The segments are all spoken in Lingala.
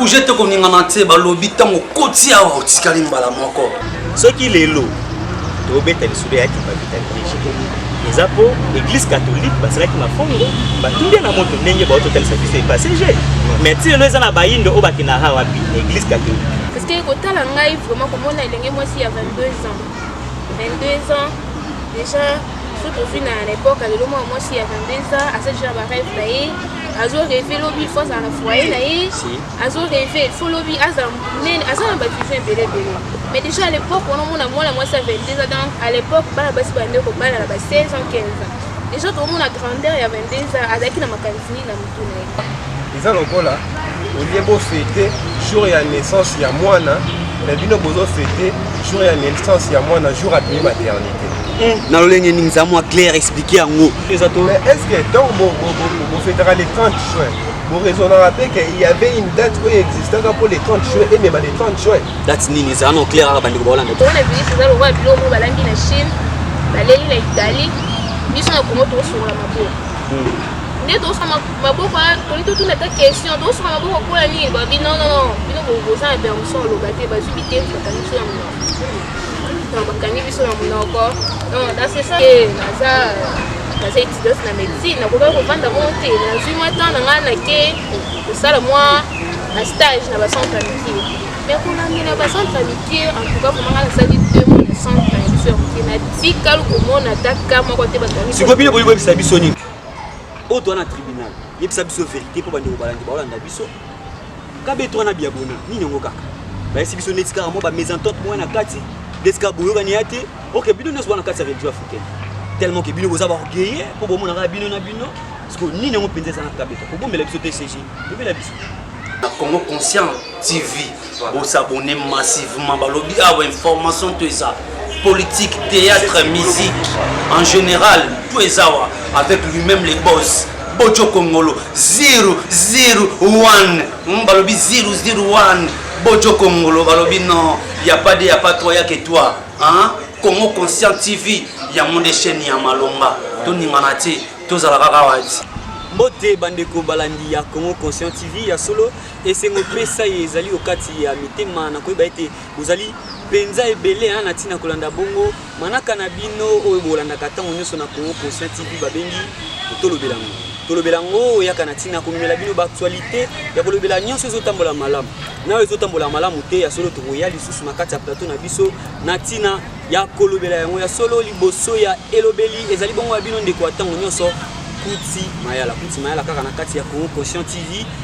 bouge te koningana te balobi ntango okoti awa otikali mbala moko soki lelo tobeta lisolo ya kipavitalite eza mpo église catholique basalaki mafongo batuli na moto ndenge bauti otalisa biso epasege mais ti lelo eza na bayindo oyo bakendaka wapi na église catholique parce que kotala ngai vraiment komona elenge mwasi ya 22 ans 22 ans déjà soki ozwi na na epoka lelo mwana mwasi ya 22 ans aza déjà na bareve na ye azo reve lobi fo azala na foyer na ye azo reve fo lobi azala monene aza na bavision ebele ebele mais déjà à l'époque wana omona mwana mwasi ya 22 ans donc à l'époque bana basi bande kobala na ba 16 ans 15 ans déjà tokomona grandeur ya 22 ans azalaki na makanisi nini na eza lokola olie bofete jour ya naissance ya mwana na bino bozofete jour ya naissance ya mwana jour apimi maternité eh, na lolenge nini eza mwa claire explike yango eza to estce ntango bofetaka le 30 juin boraisonnaka mpe ke y avait une date oyo existaka mpo le 30 juin emema le 30 juin date nini eza no claire kaka bandeko baolanda tona bilisi eza lokola biloko balambi na chine baleli na italie biso na kongo tokosokola maboko nde tosuka maboko toli totuna ata question tosuka maboko akola nini babi non non non bino boza na permission aloba te bazwi bitendi bakangi biso na monoko donc bakangi biso na monoko donc dans ce sens naza naza étudiante na médecine nakokaki kovanda moko te nazwi mwa temps na ngai nake kosala mwa na stage na bacentre ya mikie Mais kolandela ba centre mike en tout cas vraiment nasali deux mois na centre ya biso ya moke natikali komona ata ka moko te bato sikoyo bino boyi boyebisa biso nini oyo toa na tribunal yebisa biso verité mpo bandeko balandi baolanda biso kabe toa na biabona nini yango kaka bayesi biso neti kaka mwa bamesentente mwa na kati neti kaka boyokani ya te ok bino nyonso bana kati ya religion africaine tellement ke bino boza baorgueille mpo bomonaka bino na bino sikoyo nini yango mpenza eza na kabe to kobombela biso te cg lobela biso na congo conscient TV bo s'abonner massivement balobi awa ah information to eza politique théâtre musique en général to eza wa avec lui-même les boss bojo kongolo 001 hmm, balobi 001 bojo kongolo balobi non ya pas de ya pas toi ya que toi hein Congo conscient TV ya monde chaîne ya malonga to ningana te tozala kaka wati mbote bandeko balandi ya Congo conscient TV ya solo Esengo pesa ye ezali okati ya mitema na koyeba ete bozali mpenza ebele na ntina kolanda bongo manaka na bino oyo bolandaka ntango nyonso na Congo Conscient TV babengi tolobela yango tolobela yango oyaka na ntina komemela bino baaktualité ya kolobela nyonso ezotambola malamu nayo ezotambola malamu te ya solo tokoya lisusu na kati ya plateau na biso na ntina ya kolobela yango ya solo liboso ya elobeli ezali bongo ya bino ndeko ya ntango nyonso kuti mayala kuti mayala kaka na kati ya Congo Conscient TV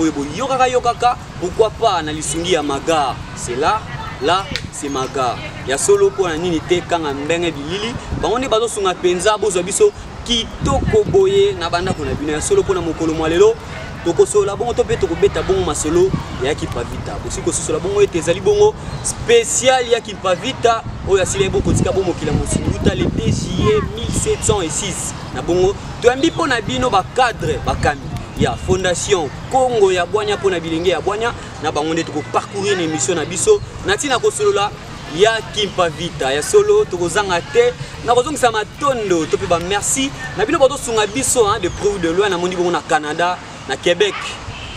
oyo boyokaka yokaka pourquoi pas na lisungi ya maga c'est là là c'est maga ya solo mpo na nini te kanga mbenge bilili bango nde bazosunga mpenza bozwa biso kitoko boye na bandako na bino ya solo mpo na mokolo mwa lelo tokosolola bongo to mpe tokobeta bongo masolo ya kipavita bosi kososola bongo ete ezali bongo spécial ya kipavita oyo asilai bokotika bomokila mosili uta le 2 juillet 1706 Na bongo toyambi mpo na bino bacadre bakambi ya fondation Congo ya bwanya mpo na bilenge ya bwanya na bango nde tokoparcourir na emission na biso na ntina kosolola ya kimpa vita ya solo tokozanga te nakozongisa matondo to mpe bamerci na bino bazosunga biso de près ou de loin namoni bongo na canada Na Québec,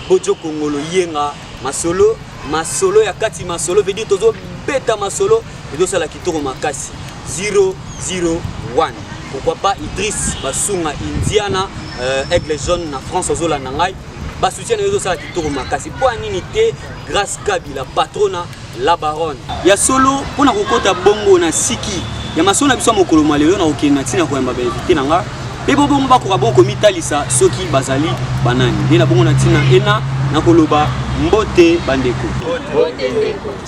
Bojo Kongolo Yenga, masolo, masolo ya kati masolo, veut dire tozo beta masolo, ezo sala kitoko makasi. 001. Pourquoi pas Idriss Basunga Indiana, euh, Aigle Jaune na France ozola na ngai. Ba soutien na yo ezo sala kitoko makasi. Mpo nini te grâce Kabila patrona La baronne. Ya solo mpo na kokota bongo na siki ya masolo na biso ya mokolo mwa lelo na kokende na ntina koyamba bainvite na nga mpe bo bongo bakoka bongo komitalisa soki bazali banani nde na bongo na ntina ena na koloba mbote bandeko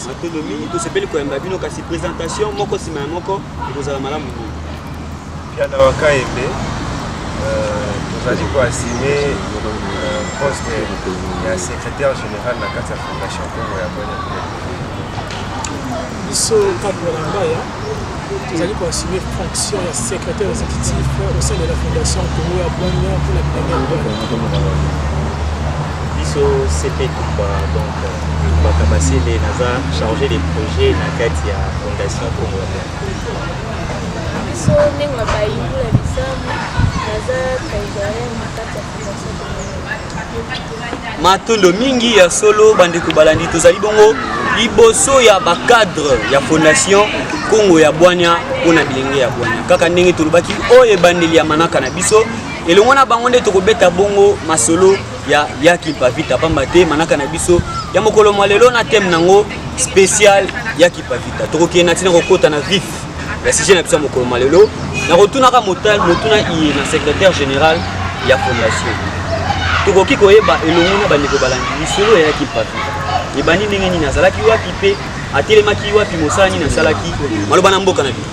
matondo mingi tosepeli koyamba bino kasi presentation moko nsima ya moko ekozala malamu mingi Piana wa Kayembe, euh, tozali ko assumer euh, poste ya secrétaire général na kati ya fondation Congo ya Bwana. Biso kati na Lambaya, tozali ko assumer fonction ya secrétaire exécutif au sein de la fondation Congo ya Bwana pour la première biso CP Kumba donc Kumba Kabasele naza chargé des projets na kati ya fondation Congo ya Bwana. biso ndenge na bayindu na bisamu naza kaisaria na kati ya fondation matondo mingi ya solo bandeko balandi tozali bongo liboso ya bacadre ya fondation kongo ya bwania mpo na bilenge ya bwania kaka ndenge tolobaki oyo ebandeli ya manaka na biso elongo na bango nde tokobeta bongo masolo ya ya kimpa vita pamba te manaka na biso ya mokolo mwa lelo na teme nango spécial ya kimpa vita tokokende na ntina kokota na vif ya sujet na biso ya mokolo mwa lelo nakotunaka motal motuna iye na secrétaire général ya fondation tokoki koyeba elongo na bandeko balandi lisolo ya ya kimpa vita ebandi ndenge nini azalaki wapi mpe atelemaki wapi mosala nini asalaki maloba na mboka na bino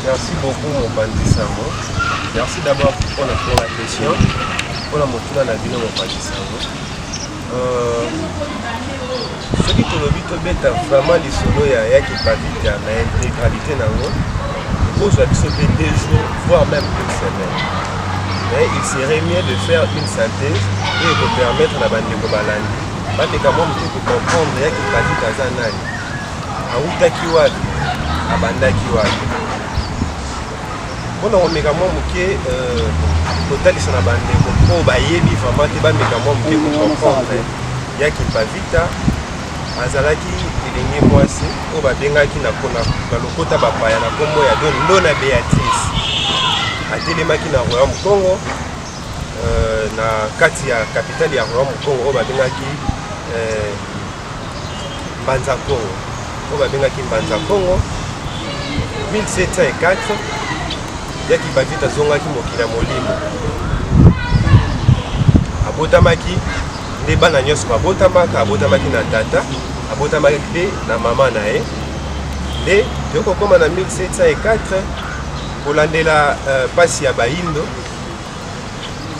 Merci beaucoup mopanzi sango. Merci d'abord pour la pour la question. Pour la motuna na bino mopanzi sango. Euh, soki tolobi tobeta vraiment lisolo ya ya kipavita na intégralité na yango kozwa biso mpe deux jours voire même une semaine mais il serait mieux de faire une synthèse oyo ekopermettre na bandeko balandi bameka mwa moke kocomprendre ya kipavita aza nani awutaki wapi abandaki wapi mpona komeka mwa moke euh, kotalisa na bandeko oyo bayebi vraiment te bameka mwa moke kocomprendre ya kimpavita azalaki elenge mwasi oyo babengaki na lokota bapaya na nkombo ya don ndona beatrice atelemaki na royaume congo euh, na kati ya kapitale ya royaume congo oyo babengaki euh, Mbanza Kongo oyo babengaki Mbanza Kongo 1704 yaki Bavita azongaki mokili ya molimo abotamaki nde bana nyonso babotamaka abotamaki na tata abotamaki mpe na mama na ye nde tokokoma na 1704 kolandela mpasi euh, ya bayindo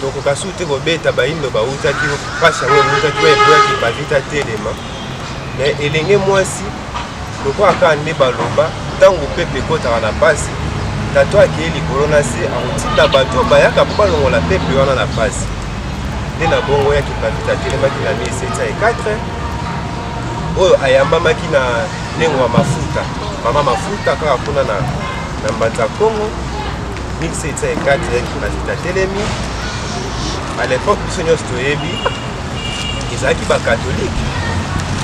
tokoka su te kobeta bayindo bautaki mpasi yango eutaki oyo eboyaki bavita telema me elenge mwasi lokola kaka nde baloba ntango pepe ekotaka na mpasi tato akei likolo na se akotinda bato oyo bayaka mpo balongola pepe wana na mpasi nde na bongo yaki bavita atelemaki na 1704 oyo ayambamaki na ndengo ya mafuta mama mafuta kaka kuna na mbanza kongo 1704 eyaki bazita atelemi à l'époque biso nyonso toyebi ezalaki bakatolike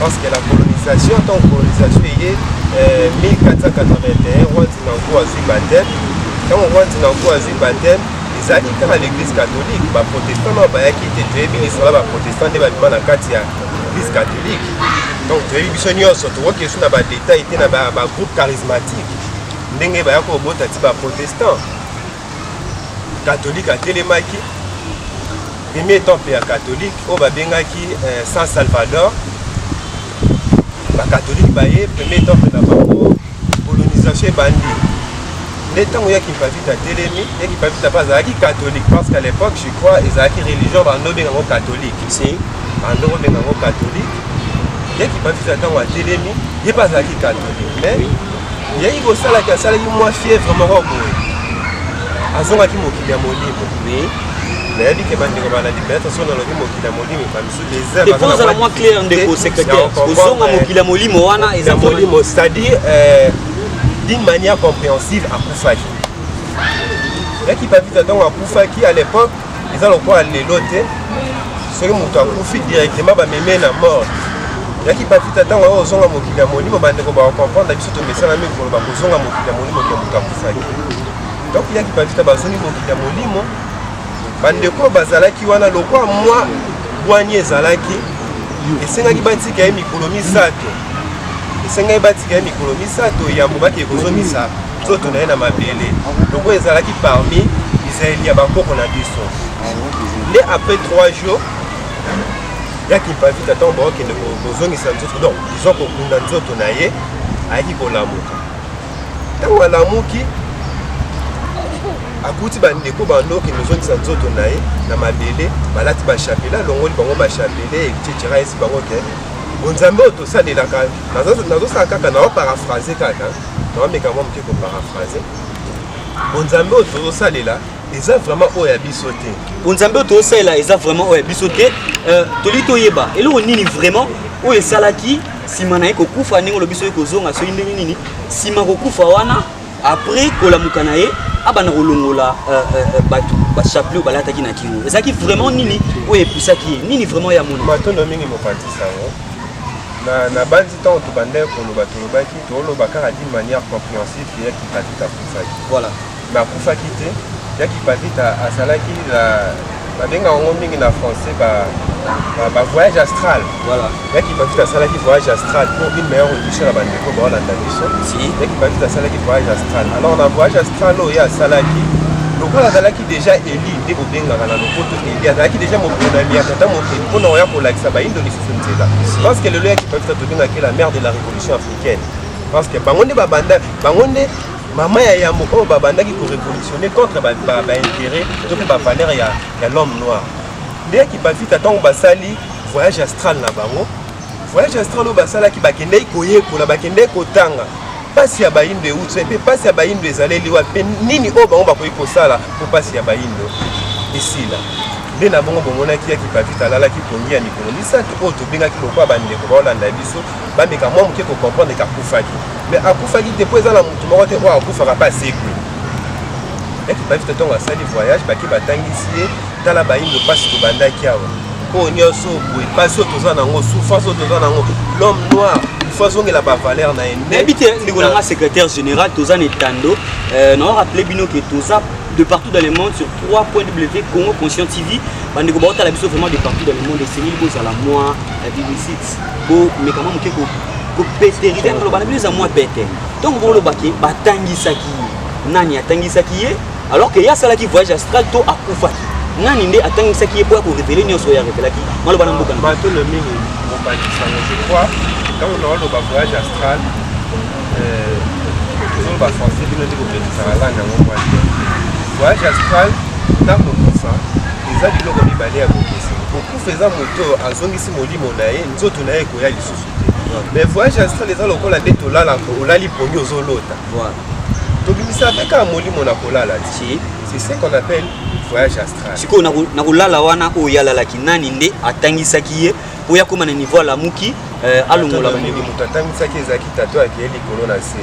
parce que la colonisation ntango colonisation eye 1481 roi dinango azwi bateme ntango roi dinango azwi bateme ezalaki kaka l'église catholique baprotestant nao bayaki te toyebi lisolo baprotestant nde babima na kati ya église catholique donc toyebi biso nyonso tokoki esu na badetail te na bagroupe charismatique ndenge baya kobota ti baprotestant katolike atelemaki premier temple ya katolike oyo babengaki eh, san salvador bakatolike baye premier temple na bango colonisation ebandi nde ntango ya kimpavita atelemi ya kimpavita mpe azalaki katolike parce qu'à l'époque je crois ezalaki religion bando obenga yango katolike si bando obenga yango katolike ye kimpavita ntango atelemi ye mpe azalaki katolike mais yaki kosalaki asalaki mwa fièvre moko boye azongaki mokili ya molimo nayebi ke bandeko balandi peut-être soki nalobi mokili ya molimo ebamisu desertozala mwa claire ndeko secrétaire kozonga mokili ya molimo wana eza molimo c'est-à-dire euh, d'une manière compréhensive akufaki yaki papita ntango akufaki à l'époque eza lokola lelo te soki moto akufi directement bameme na mort yaki bapita ntango yango ozonga mokili ya molimo bandeko bakokomprendre biso tomesanami koloba kozonga mokili ya molimo ke moto akufaki donc yaki bapita bazongi mokili ya molimo bandeko oyo bazalaki wana lokwa mwa bwani ezalaki esengaki batika ye mikolo misato esengaki batika ye mikolo misato yambo bakee kozongisa nzoto na ye na mabele lokola ezalaki parmi bizaleli ya bakoko na biso nde après 3 jours ya kimpavita ntango bakokende kozongisa nzoto donc disons kokunda nzoto na ye ayaki kolamuka ntango alamuki akuti bandeko bando okende ozongisa nzoto na ye na mabele balati bashapele alongoli bango bashapele etc esi bango te bonzambe oyo tosalelaka nazosala kaka na oparafrase kaka naomeka mwa moke koparaphrase bonzambe oyo tozosalela eza vraiment oyo ya biso te bonzambe oyo tozosalela eza vraiment oyo ya biso te euh, toli toyeba eloko nini vraiment oyo esalaki nsima na ye kokufa ndenge olobi soki kozonga soki ndenge nini nsima kokufa wana après kolamuka na ye abanda kolongola euh, euh, bato bachapelet oyo balataki na kingo ezalaki vraiment nini oyo epusaki ye nini vraiment ya moni matondo mingi mopanzi sango nabanzi ntango tobandaki koloba tolobaki toloba kaka d'une manière compréhensive que yaki patita akufaki voilà mais akufaki te yaki patita asalaki la babengaka yango mingi na français ba ba voyage astral voilà yaki patita asalaki voyage astral pour une meilleure audition na bandeko baolanda biso si yaki patita asalaki voyage astral alors na voyage astral oyo ye asalaki lokola azalaki déjà eli nde kobengaka na lopoto eli azalaki déjà moponami ya tata mokeli mpo na koya kolakisa bayindo lisusu nzela parce que lelo yaki patita tobengaki la mare de la révolution africaine parce que bango nde babanda bango nde mama ya yambo oyo babandaki korevolutionne contre baintérêt to mpe bavaleur ya l'homme noir nde kipavita ntango basali voyage astral na bango voyage astral oyo basalaki bakendeki koyekola bakendeki kotanga mpasi ya bayindo euti mpe mpasi ya bayindo ezaleli wapi mpe nini oyo bango bakoki kosala mpo mpasi ya bayindo esila nde na bongo bomonaki ya kipavita alalaki pongi ya mikolo misato oyo tobengaki lokola bandeko baolanda biso bameka mwa moke kocomprendre ke akufaki mais akufaki te mpo eza na motu moko te oyo akufaka mpe asekwi eki bavita ntongo asali voyage bake batangisi ye tala bayindo mpasi tobandaki awa oyo nyonso boye mpasi oyo toza nango souffrance oyo toza nango l'homme noir faut azongela bavaler na ye nayebi te ndeko nanga secrétaire général toza na etando euh, nao rappele bino ke toza de partout dans le monde sur 3 point w congo conscient tv bandeko baotala biso vraiment de partout dans le monde esengeli bozala mwa euh, bbc komeka mwa moke kopeterize koloba na bino eza mwa pete ntongo bolobaki batangisaki ye nani atangisaki ye alors ke ye asalaki voyage astral to akufaki nani nde atangisaki ye mpo ya korevele nyonso oyo arevelaki maloba na mboka bato le mingi mobanisaka je crois ntango naoloba voyage astral euh, tozoloba français bino nde kobekisaka langue yango mwa te voyage astral ntango kokufa eza biloko mibale ya kokesa kokufa eza moto oyo azongisi molimo na ye nzoto na ye ekoya lisusu te mais voyage astral eza lokola nde tolala olali poni ozolota tobimisa mpe kaka molimo na kolala ti c'est ce qu'on appelle voyage astral sikoyo na kolala wana oyo ye alalaki nani nde atangisaki ye mpo ye akóma na niveau alamuki euh, alongola molimo moto atangisaki ezalaki tato akeye likolo na se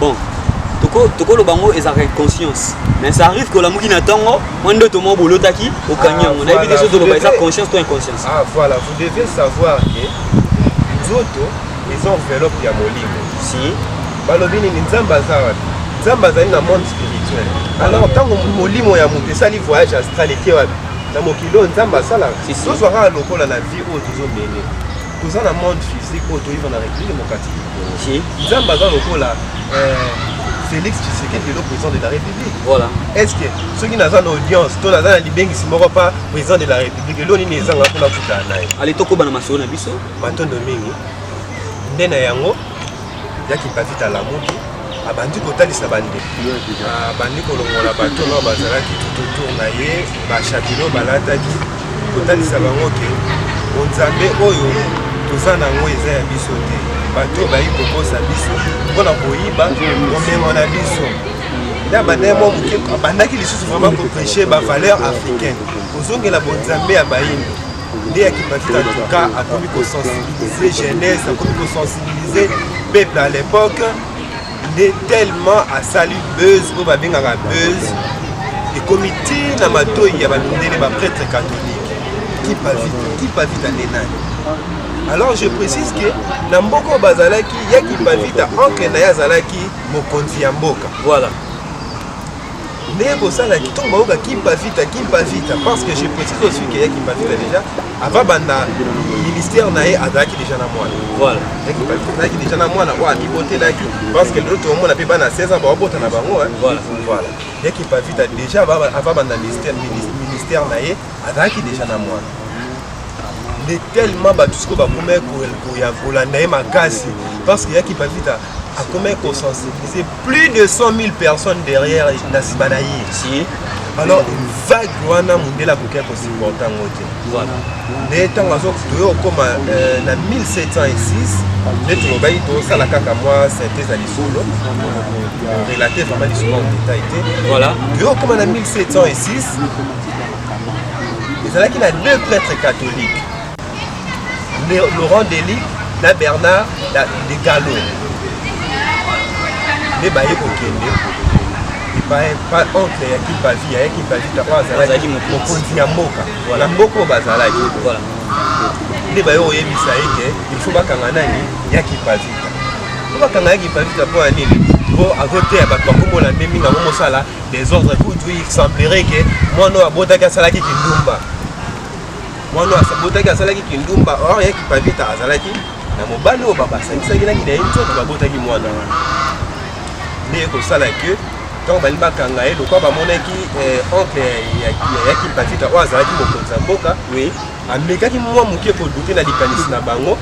bon tokoloba yango ezalaka inconscience mais ça arrive que olamuki na ntongo mwa ndoto moko bolotaki okangi ah, yango nayebi te so toloba eza conscience to inconscience ah voilà vous devez savoir que nzoto eza enveloppe ya molimo si balobi nini nzambe aza wapi nzambe azali na monde spirituel alors ntango molimo ya moto esali voyage astral eke wapi na mokili oyo nzambe asalaka tozwa kaka lokola na vie oyo tozomene toza na monde physique oyo toyeba na république démocratique du congo nzambe aza lokola euh, félix tshisekedi lelo président de la république voilà est ce que soki naza na audience to naza na libengisi moko pa président de la république elo nini ezanga mpona kutana naye ale tokoba na masolo na biso matondo mingi nde na yango yaki david alamuki abandi kotalisa bande abandi kolongola bato oyo bazalaki tututur na ye bashakilo balataki kotalisa bango ke bonzambe oyo toza na yango eza ya biso te bato oyo bayi kokosa biso mpo na koyiba bomengo na biso nde abandaki mwa moke abandaki lisusu vraimen kopreche bavaleur africaine kozongela bonzambe ya bayindo nde ya kipatita tuka akomi kosensibilize jeunesse akomi kosensibilize peuple à l'époque nde tellement asali buzz oyo babengaka buzz ekomi ti na matoi ya bamindele baprêtre catholique kipavita kipavita nde nani alors je précise que na mboka oyo bazalaki ya kipavita ankle na ye azalaki mokonzi ya mboka voilà ndenge kosala ntongo bayoka kimpavita kimpavita parce que je précise aussi que ya kimpavita déjà avant banda ministère na ye azalaki déjà na mwana voilà ya kimpavita azalaki déjà na mwana oyo amibotelaki parce que lelo tokomona mpe bana 16 ans baobota na bango voilà voilà ya kimpavita déjà avant banda ministère ministère na ye azalaki déjà na mwana nde tellement bato sikoyo bakomaki kolanda ye makasi parce que ya kimpavita akomaki kosensibiliser plus de 100 000 personnes derrière na nsima na ye si. alors vague wana mondele akoki akosupporte yango te nde ntango azotoye okoma euh, na 1706 nde tolobaki tosala kaka mwa synthèse ya lisolo relate vraiment lisolo en détail te toye okoma na 1706 ezalaki na deux prêtres catholiques Laurent Deli na Bernard de Gallo nde baye kokende oncle ya kipavi ya kipavi tako azalaki mokonzi ya mboka na mboka oyo bazalaki nde baye koyebisa ye ke ilfaut bakanga nani ya kipavita po bakanga ya kipavita mpo ya nini po azoteya bato bakomona nde mingi yango mosala desordre kutu il semblerait ke mwana oyo abotaki asalaki kindumba mwana oyo asabotaki asalaki kindumba or ya kipavita azalaki na mobali oyo babasangisaki na kina ye nzoto babotaki mwana wana nde ekosala ke ntango balingi bakanga ye lokwa bamonaki eh, oncle ya kipavita oyo azalaki mokonzi ya mboka oui amekaki mwa moke kodute na likanisi na bango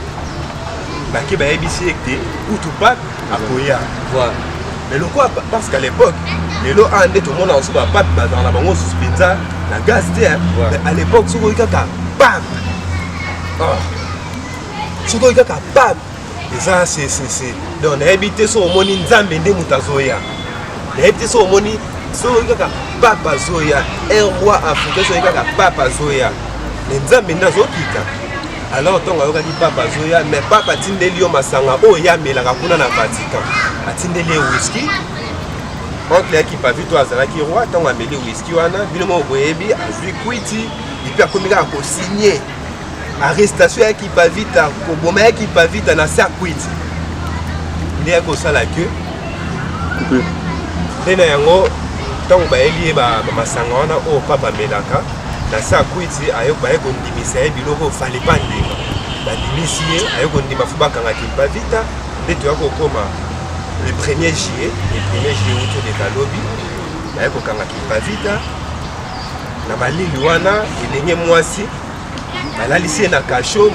bake bayebisi ete utu pape akoya voilà mais lokola parce qu'à l'époque lelo a nde tomona oso bapape bazala na bango osusu mpenza na gaz te mais à l'époque soki oyi kaka pam ah. soki oyi kaka pam eza sesese donc nayebi te soki omoni nzambe nde moto azoya nayebi te soki omoni soki oyi kaka pape azoya un roi africain soki oyi kaka pape azoya mais nzambe nde azokita alors ntongo ayokaki papa azoya mais papa atindeli yo masanga oyo ye amelaka kuna na vatican atindeli ye wiski oncle ya kipavito azalaki roi ntango ameli wiski wana bino moko boyebi azwi kwiti epi akomi kaka kosigne arrestation ya kipavita koboma ya kipavita na se ya kwiti nde ya kosala ke nde na yango ntango bayeli ye bamasanga wana oyo papa amelaka na se ya kwiti aye baye bimisa ye biloko fale pa ndima bandimisi ye aye kondima fo bakanga kimpa vita nde toya kokoma le premier juillet le premier juillet uto leka lobi naye kokanga kimpa vita na malili wana elenge mwasi balalisi ye na kasho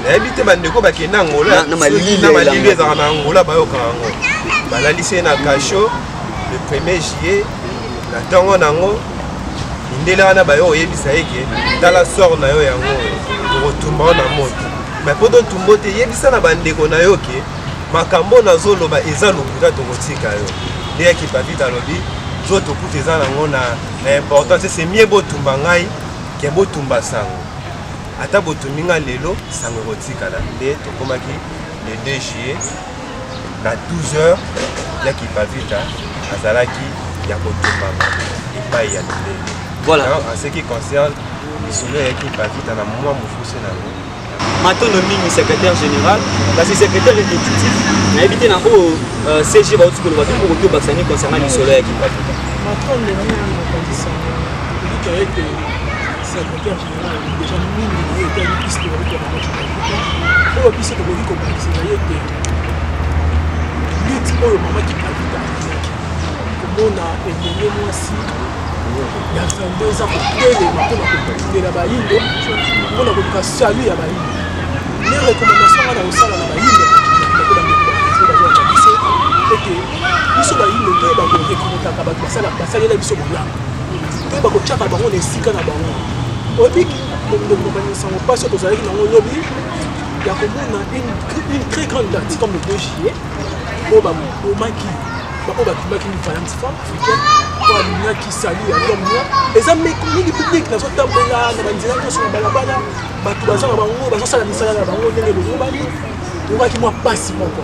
nayebi te bandeko bakenda angola na malili ezalaka na angola bayokaka yango balalisi ye na kasho le premier juillet Na ntongo na yango mindele wana bayo oyebisa ye ke tala sor na yo yango oyo tokotumba yo na moto mai mpo totumba yo te yebisa na bandeko na yo ke makambo oyo nazoloba eza lokuta tokotika yo nde ya kipapita alobi nzoto kutu eza nango na importance se mie botumba ngai ke botumba sango ata botumbi ngai lelo sango ekotikala nde tokomaki le 2 juillet na 12 heures ya kipavita azalaki ya kotumbama epai ya mindele voilà. en ce qui concerne lisolo ya kipavita na mwa mokuse na yango matondo mingi secrétaire général kasi secrétaire exécutif nayebi te na oyo euh, cg bauti koloba te moko tobakisa nini concernant lisolo ya kipavita matondo mingi na bakonzi sango elika ete secrétaire oyo biso tokoki kobakisa na ye ete lite oyo mama kipavita azalaki komona elenge mwasi ya 22 eza kotelema mpo na kokundela bayindo mpo na koluka salu ya bayindo ne recommandation nga na kosala na bayindo ete biso bayindo toyeba korekonotaka bato basalaka basalela biso bolamu mpe bakotyaka bango na esika na bango oyebi kokomani nsango mpasi oyo tozalaki nango lobi ya komona une très grande date comme le 2 juillet oyo babomaki baoyo bakimaki mifayansi femme africaine oyo alingaki sali ya lom noir eza mingi publike nazotambola na banzela nyonso na balabala bato baza na bango bazosala misala na bango ndenge lolobani omaki mwa mpasi moko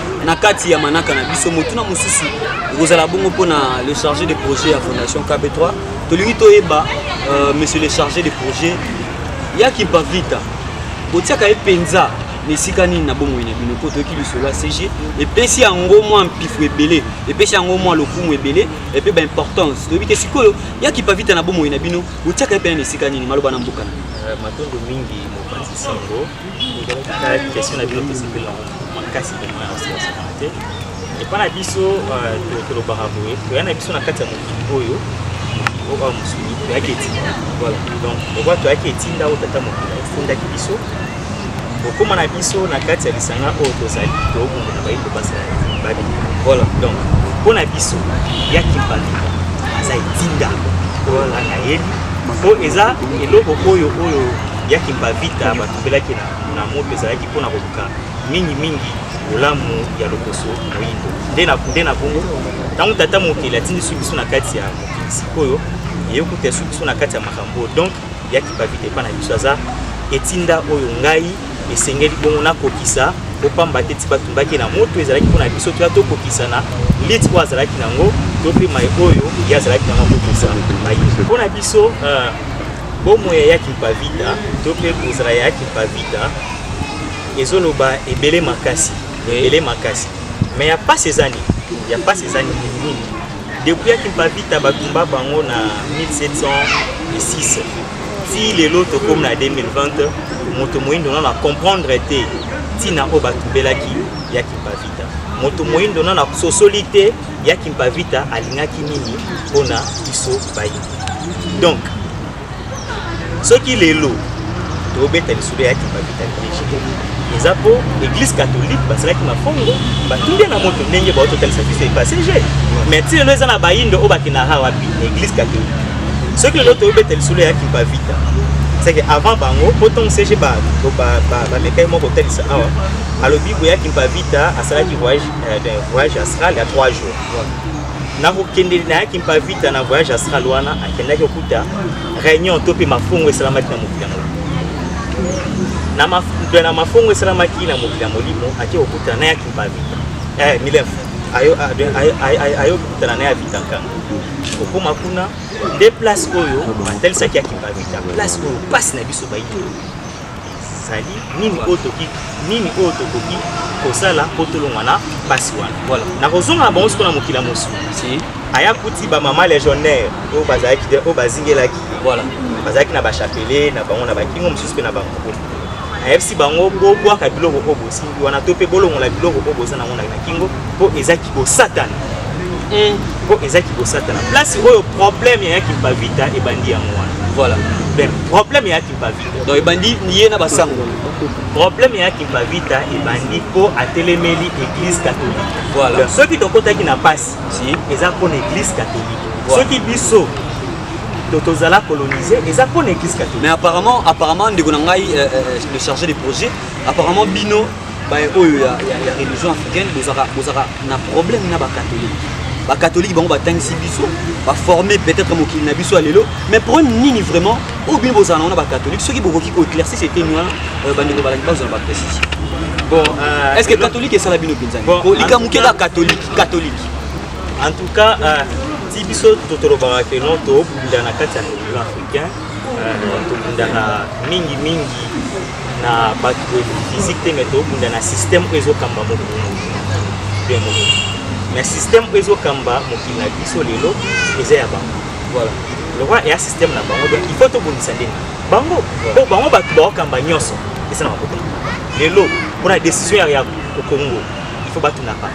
na kati ya manaka na biso motuna mosusu ekozala bongo mpo na le chargé de projet ya fondation kb3 tolingi toyeba euh, monsieur le chargé de projet ya kimpavita botiaka ye mpenza na esika nini na bomoi na bino mpo toyoki lisolo ya cg epesi yango mwa mpifo ebele epesi yango mwa lokumu ebele epe baimportance toyebi te sikoyo ya kipavita na bomoi na bino botiaka ye mpena na esika nini maloba na mboka na euh, matondo mingi mopanzi sango tozalaki question na bino tosepeli yango makasi vraimen ya oseasakana te epai na biso euh, tolobaka boye toya na biso na kati ya mokili oyo mokili oyo mosuni toyaki etinda voilà donc lokwa toyaki etinda oyo tata mokili atindaki biso kokóma na biso na kati ya lisanga oyo tozali tookunda na bayindo basala babi voilà donc mpo na biso ya kimpani aza etinda oyo alaka yebi mpo eza eloko oyo oyo ya Kimpavita batubelaki na, na moto ezalaki mpo na koluka mingimingi bolamu ya lokoso moyindo nde na nde na bongo ntango tata mokeli atindisi biso na kati ya mokili sikoyo eyokuta esu biso na kati ya makambo donc ya Kimpavita epai na biso aza etinda oyo ngai esengeli bongo nakokisa kopamba te ti batumbaki na moto ezalaki mpo na biso toya tokokisana liti oyo azalaki nango to mpe mai oyo ye azalaki nango akokisa mai mpo na biso euh, Bomoi ya Kimpavita to mpe kozala ya Kimpavita ezoloba ebele makasi ebele makasi me ya mpasi eza nini ya mpasi eza nini nini depuis ya Kimpavita batumba bango na 1706 ti lelo tokomi na 2020 moto moyindo nano acomprendre te ntina oyo batumbelaki ya Kimpavita moto moyindo nano asosoli te ya kimpavita alingaki nini mpo na biso bayi donc soki lelo tobeta lisolo ya kimpavita liege eza mpo église catholique basalaki mafongo batunde na moto ndenge bao totalisa biso epasege mais ti lelo eza na bayindo oyo bakendaka wapi na église catholique soki lelo tobeta lisolo ya kimpavita seke avant bango mpo ntongo sege bamekaki moko kotalisa awa alobi boyaki mpavita asalaki voyage eh ben, voyage astral ya 3 jours nakokende nayaki mpa vita na voyage astral wana akendaki okuta réunion to mpe mafongo esalamaki na mokili ya molimo na mafongo esalamaki na mokili ya molimo ake kokuta nayaki mpa vita eh, milef ayo kokutana na ya vita nkanga okoma kuna nde place oyo batalisaki ya kimpa vita place oyo mpasi na biso bayi ezali nini oyo toki nini oyo tokoki kosala mpo tolongwa na mpasi wana voilà. nakozonga na bango sikoyo na mokili ya mosuni si. aya kuti bamama legionnaire oyo bazalaki te oyo bazingelaki voilà. bazalaki na bachapele na bango na bakingo mosusu mpe na bango ayebisi bango bobwaka biloko oyo bosimbi wana to mpe bolongola biloko oyo boza nango na kingo mpo eza kibosatana eh. mpo eza kibosatana place oyo problème ya yakimpavita ebandi yango wana voilà. problème ya yakimpavita donc ebandi ye na basango problème ya kimpavita ebandi mpo atelemeli église catholique voilà. soki tokotaki na mpasi si. eza mpo na église catholique voilà. soki biso tozala colonise eza mpo na église catholique mais apparemment apparemment ndeko na ngai euh, euh, le chargé de projet apparemment bino baye oyo ya, ya, ya religion africaine bozaka bozaka na problème na bakatolike bakatolike bango batangisi biso baforme peut-être mokili na biso ya lelo mais problème nini vraiment oyo bino bozala nango na bakatolike soki bokoki koéclairci seteni wana euh, bandeko balaki bazwa na baprécision bon, euh, est ce que katolike esala bino mpenzani bon, po likambo moke kaka katolike katolike en tout cas euh, ti biso totolobaka ke non tobunda na kati ya religion africain tobundaka mingi mingi na bato oyo physique te mais tobunda na système oyo ezokamba mokili bien mokili mais système oyo ezokamba mokili na biso lelo eza ya bango voilà le roi eya système na bango donc il faut tobongisa ndenge bango po bango bato baokamba nyonso eza na makote lelo mpona décision ya congo il faut batunaka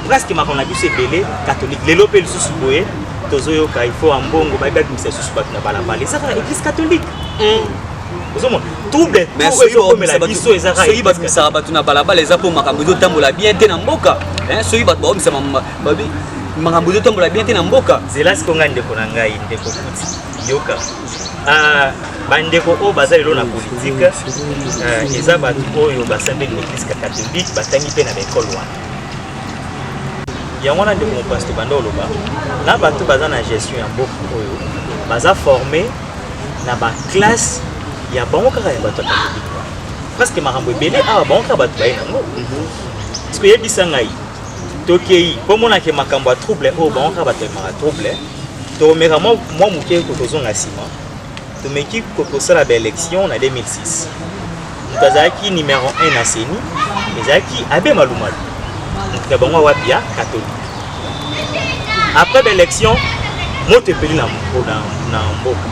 presque makambo na biso ebele catholique lelo mpe lisusu boye tozoyoka il faut ambongo bayebi babimisa lisusu bato na balabala eza kaka église catholique mm. ozomona trouble tout ezokomela biso ezaka soki babimisaka bato na balabala eza mpo makambo ezotambola bien te na mboka soki bato baomisa makambo ezotambola bien te na mboka zela siko ngai ndeko na ngai ndeko kuti yoka ah, bandeko oyo baza lelo na politike ah, eza bato oyo basambeli na eglise catholique batangi mpe na baekole wana yango wana ndeko mopasi tobanda oloba na bato baza na gestion ya mboka oyo baza forme na ba classe ya bango kaka ya bato ya katolike wana presque makambo ebele awa bango kaka bato baye nango parceke oyebisa ngai tokei mpo omonake makambo ya trouble oyo bango kaka bato emaka trouble tomeka mwa moke ko tozonga nsima tomeki kosala baélection na 2006 moto azalaki numero 1 na seni ezalaki abe malumalu moto na bango wapi ya katolike après baélection moto epeli na mboka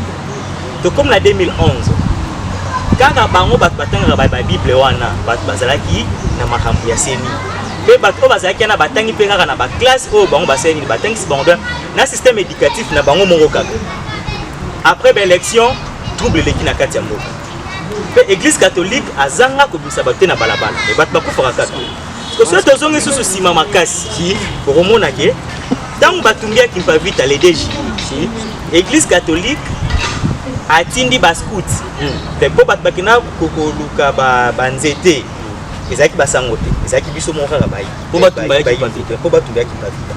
tokomi na 2011 kaka bango bato batangaka babible wana bato bazalaki na makambo ya semi mpe bato oyo bazalaki wana batangi mpe kaka na baklasse oyo bango basali nini batangisi bango mpe na système éducatif na bango moko kaka après baélection trouble eleki na kati ya mboka Pe eglise catholique azanga kobimisa bato te na balabala. Mais bato bakufaka kaka. Parce que soki tozongi susu sima makasi, si okomona ke ntango batumbiaki Mpavita le 2 juillet, eglise catholique atindi bascout hmm. mpo bato bakenda koluka banzete ezalaki basango te ezalaki biso moko kaka bayi mpo batumba ya kipavita mpo batumba ya kipavita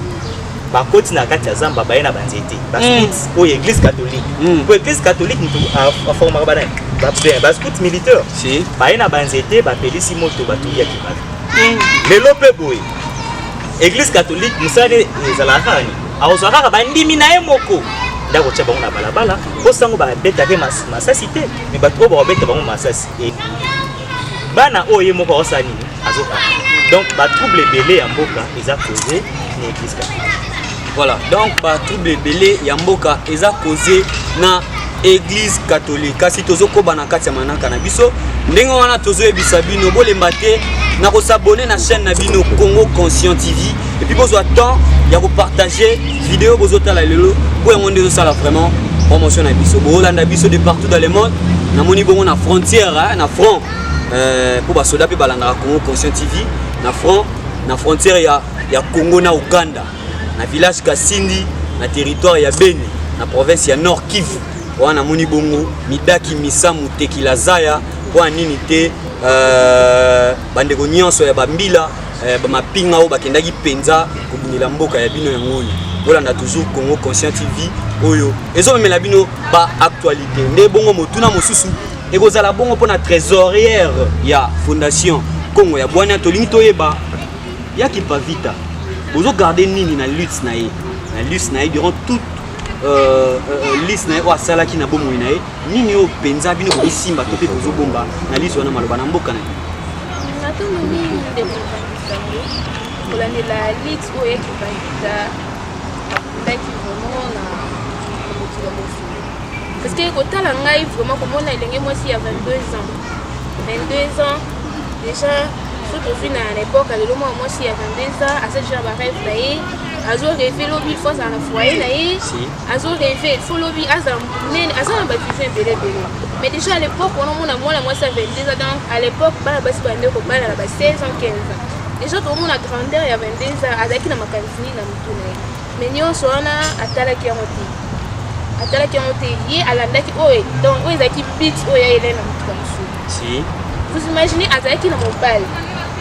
bakoti na kati ya zamba baye na banzete bascout mm. oyo église catholique mm. mpo église catholique motu aformaka banani bascout militaire baye na banzete bapelisi moto batuli ya kipavita mm. lelo mpe boye église catholique mosala ezalaka kaka nini akozwa kaka bandimi na ye moko nde akotya bango na balabala mpo sango babetake masasi te me bato oyo bakobeta bango masasi bana oyo ye moko akosala nini donc ba trouble ebele ya mboka eza cause na église catholique voilà donc ba trouble ebele ya mboka eza cause na église catholique kasi tozokoba na kati ya manaka na biso ndenge wana tozoyebisa bino bolemba te na kosabone na chaîne na bino congo conscient tv epuis bozwa temps ya kopartage video bozotala lelo mpo yango nde ezosala vraiment promotion na biso boolanda biso de partout dans le monde namoni bongo na frontière na front eh, mpo basoda mpe balandaka congo conscient tv na front na frontière ya, ya congo na uganda na village kasindi na territoire ya beni na province ya nord kivu wana namoni bongo midaki misamu tekila zaya mpo ya nini te uh, bandeko nyonso ya bambila uh, eh, bamapinga oyo bakendaki mpenza kobundela mboka ya bino yango oyo bolanda toujours congo conscient tv oyo ezomemela bino baactualité nde bongo motuna mosusu ekozala bongo mpo na trésorière ya fondation congo ya bwania tolingi toyeba ya kipavita bozogarde nini na lutte na ye na lutte na ye durant toute euh, euh, liste na ye oyo asalaki na bomoi na ye nini oyo mpenza bino bokosimba to mpe bozobomba na liste wana maloba na mboka na ye natondo mingi ndeko mokangisango kolandela lite oyo ekipangisa akundaki vraimen na mokili ya mosili parce que kotala ngai vraiment komona elenge mwasi ya 22 ans 22 ans déjà so tozwi na l'époque lelo mwana mwasi ya 22 ans aza déjà bareve na ye azo reve lobi fo azala na foyer na ye azo reve fo lobi azala monene aza na bavision ebele ebele mais déjà à l'époque wana omona mwana mwasi ya 22 ans donc à l'époque bana basi bande kobala na ba 16 ans 15 ans déjà tokomona grandeur ya 22 ans azalaki na makanisi nini na motu na ye mais nyonso wana atalaki yango te atalaki yango te ye alandaki oyo donc oyo ezalaki bit oyo ya elai na motuka mosusu vous imaginez azalaki na mobali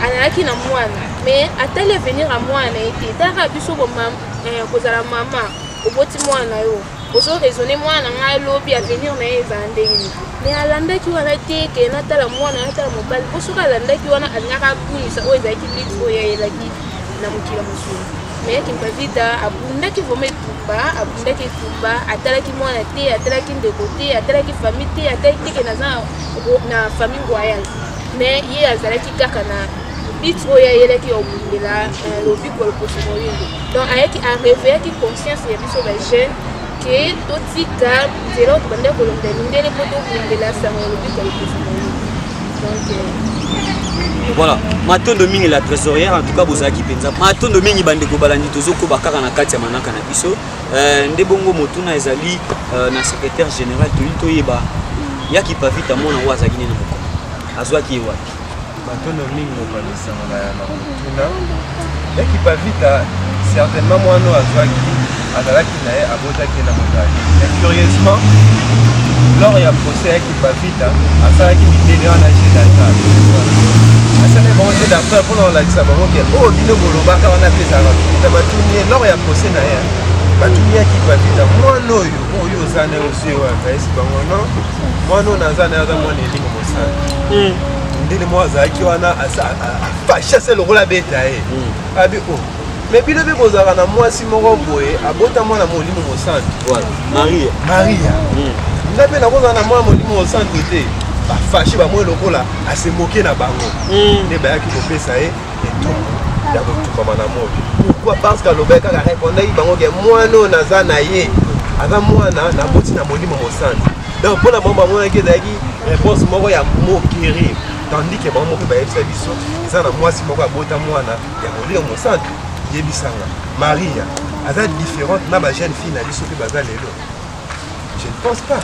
azalaki na mwana mais atali avenir ya mwana na ye te talaka biso eh, kozala mama oboti mwana na yo ozo raisonne mwana ngai lobi avenir na ye ezala ndenge nini mais alandaki wana te ke natala mwana natala mobali po soki alandaki wana alingaka abungisa oyo ezalaki lite oyo ayelaki na mokili mosusu mais kimpavita abundaki vraimen etumba abundaki etumba atalaki mwana te atalaki ndeko te atalaki famille te atalaki teke naza na famille royale mais ye azalaki kaka na bit oyo ayelaki ya obundela euh, lobiko lokoso moyindo donc ayaki areveillaki conscience ya biso bajeune ke totika nzela oyo tobanda kolonga mindele mpo tobundela sango ya lobiko ya lopesa na yo donc euh, voilà matondo mingi la trésorière en tout cas bozalaki mpenza matondo mingi bandeko balandi tozokoba kaka na kati ya manaka na biso euh, nde bongo motuna ezali euh, na secrétaire général toyei toyeba yaki pavita mwana oyo azalaki nini na mokolo azwaki ye wapi matondo mingi mokonzi nsango na ya makotuna ya kipavita certainement mwana oyo azwaki azalaki na ye abotaki na mobali mais curieusement lors ya procès ya kipavita asalaki midele wana je datal asalaki bango je datal mpona kolakisa bango ke oyo oh, bino bolobaka wana mpe ezalaka bikita batuni ye lors ya procès na ye batuni ya kipavita mwana oyo oyo oza na yo osi oyo apesi bango non mwana oyo naza naye aza mwana elimo mosali ndini moko azalaki wana fashase lokola abeta ye abi o me bino mpe bozalaka na mwasi moko boye abota mwana molimo mosantu maria maria nga mpe nakozala na mwana molimo mosantu te bafashe bamoi lokola asemoke na bango nde bayaki kopesa ye ya kotukama na moi pourkui parce que alobaki kaka repondaki bango ke mwana oyo naza na ye aza mwana naboti na molimo mosantu donc mpo na bango bamonaki ezalaki réponse moko ya moquerie tandis ke bango moko bayebisa biso eza na mwasi moko abota mwana ya molimo mosantu yebisanga maria aza différente na bajeune fille na biso mpe baza lelo Je ne pense pas.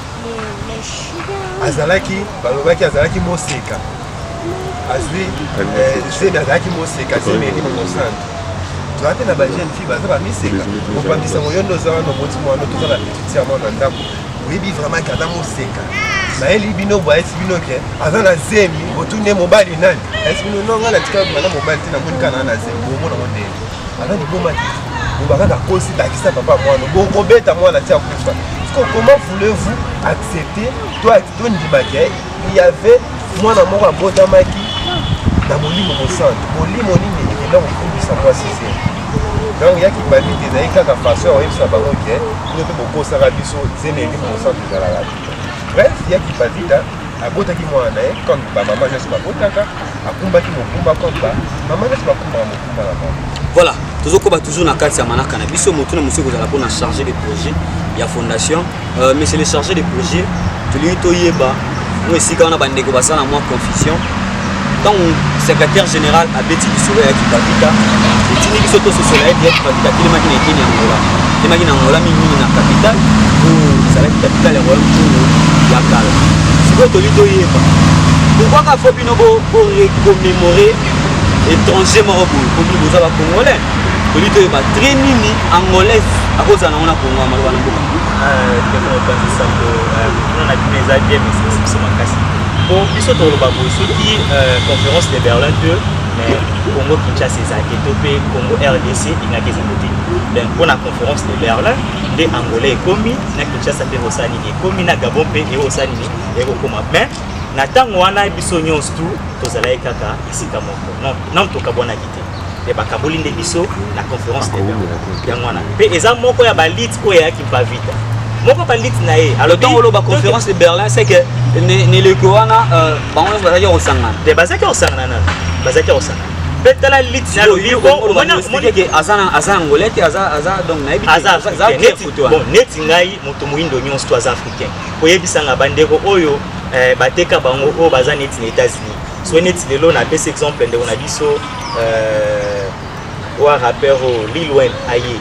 Azalaki, balobaki azalaki moseka. Azui, eh, zemi azalaki moseka, zemi eki mosantu. toza mpe na bajeune fille baza bamiseka kobangisa ngo yo nde oza wana oboti mwana toza na petite ya mwana ndako oyebi vraiment ke aza moseka nayeli bino boyesi bino ke aza na zemi botuni ye mobali nani ayesi bino no ngai natika bana mobali te namoni kana na zemi bomona ngo ndenge Ana liboma te. Loba kaka kosi bakisa papa mwana. Boko beta mwana tia kufa. Siko comment voulez-vous accepter toi to ndima ke il y avait mwana moko abotamaki na molimo mosantu. Molimo nini ekenda kokumbisa mwasi se? Donc yaki babi te ezali kaka façon ya oyebisa bango ke bino mpe bokosaka biso zemi ya molimo mosantu ezalaka te. Bref, yaki babita abotaki mwana na ye comme bamama nyonso babotaka akumbaki mokumba comme bamama nyonso bakumbaka voilà tozokoba toujours na kati ya manaka na biso motu na mosusu ekozala mpona chargé de projet ya fondation euh, monsieur le chargé de projet tolingi toyeba mwa esika wana bandeko basala na mwa confusion ntango secrétaire général abeti lisolo ya kipavita etindi biso tososola ete ya kipavita atelemaki na eteni ya ngola atelemaki na ngola mingimingi na capitale oyo ezalaki capitale ya royaume congo ya kala sikoyo toli toyeba pourquoi kafo bino borecommémore étranger moko boye komi boza ba congolais toyebi toyeba trai nini angolaise akozala nango na kongo ya maloba na mboka po biso toloba boye soki euh, conférence de berlin te mais congo kinshasa eza te to mpe congo rdc ingaki ezango te donc mpo na conférence de berlin nde angola ekomi na kinshasa mpe ekosala nini ekomi na gabon mpe ekosala nini ekokoma mais Na ntango wana biso nyonso tu tozalaki kaka esika moko, nano tokabwanaki te mpe bakaboli nde biso na conference de yango wana mpe eza moko ya balite oyo eyaki mpavita moko balite na ye alotango oloba conférence de berlin c'est que neleko wana euh, bango nyonso bazalaki kosangana te bazalaki kosangana nano bazalaki kosangana mpe tala lite na lobikomonike aza na angolais te aza donc nayebi neti ngai moto moindo nyonso to aza africain koyebisa nga bandeko oyo eh, bateka bango oyo baza neti na États-Unis so neti lelo napesi exemple ndeko na biso euh, wa rappeur oyo Lil Wayne aye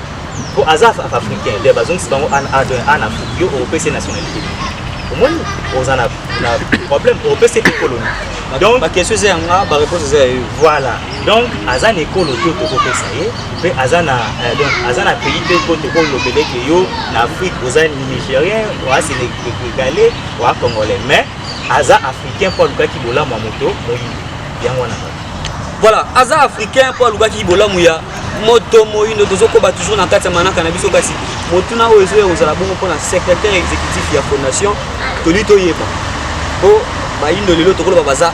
po aza africain nde bazongisi bango an afrique yo opesi nationalité omoni oza na problème opesi mpe koloni donc baquestion eza yanga bareponse eza ya yo voilà donc aza na ekolo te tokopesa ye mpe aza na eh, donc aza na pays mpe mpo tokoki kolobela ete yo na afrique oza nigérien oa sénégalais oa congolais mais aza africain mpo alukaki bolamu ya moto moyindo yango wana voilà aza africain mpo alukaki bolamu ya moto moyindo tozokoba toujours na kati ya manaka na biso kasi motuna oyo ezoya kozala bongo mpona secrétaire exécutif ya fondation toli toyeba mpo bayindo lelo tokoloba baza